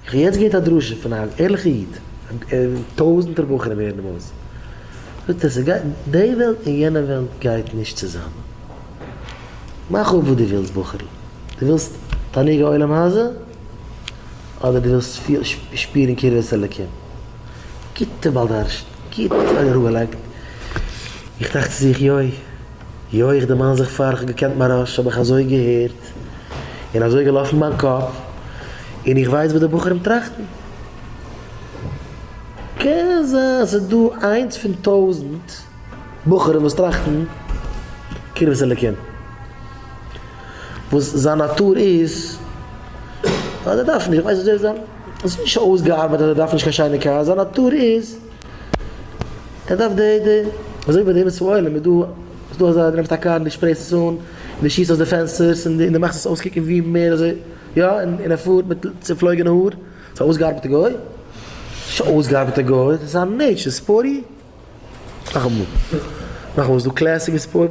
איך האב יעצט געהערט א דרשה פון א ערליכע איד, טויזענטער בחורים הערן אים אויס, זאגט ער ס'גייט, די וועלט און יענע וועלט גייט נישט צוזאמען, מאך אפ וואס דו ווילסט בחור'ל, דו ווילסט תענוג העולם הזה? אדער דו ווילסט שפירן קרבת אלקים? גוטע בעל דרשן, גוט אראפגעלייגט, איך טראכט צו זיך, יוי. יא איך דערמאן זיך פאר איך האב געקענט מהרש האב איך אזוי געהערט און אזוי געלאפן מיין קאפ און איך ווייס וואס די בחורים טראכטן. קען זיין אז ס'דא איינס פון טויזנט בחורים וואס טראכטן קרבת אלקים וואס זיין נאטור איז אז ער דארף נישט, איך ווייס נישט אויב ער איז א, עס איז נישט אויסגעארבייט אז ער דארף נישט קיין שיינע קאר, זיין נאטור איז. ער דארף די די אזוי ווי ביי די ארץ ישראל איז דא איז דא אזא די נעמסט א קאר און די שפרייסט עס אן און די שיסט אויס די פענסטערס און די מאכסט עס אויסקוקן ווי מער אזוי יא און ער פארט מיט צופלויגענע האר ס'איז א אויסגעארבעטע גוי נישט א אויסגעארבעטע גוי ס'איז א נעטשור ספארטי נאכאמאל נאכאמאל ס'איז דא קלעסיק און ספארט.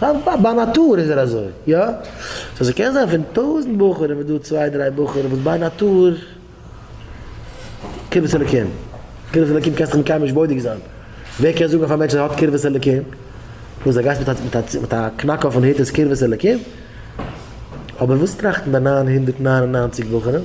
בה ביי נאטור איז ער אזוי, יא? סאו ס'קען זיין פון טויזענט בחורים איז דא צוויי דריי בחורים וואס ביי נאטור קרבת אלקים, קרבת אלקים קענסטעך מיט קיינעם נישט בודק זיין, ווער קען זאגן אויף א מענטש אז ער האט קרבת אלקים? וואס ער גייט מיט א מיט א קנאק אויפן הוט איז קרבת אלקים? אבער וואס טראכטן די נײַן הונדערט נײַן און נײַנציק בחורים?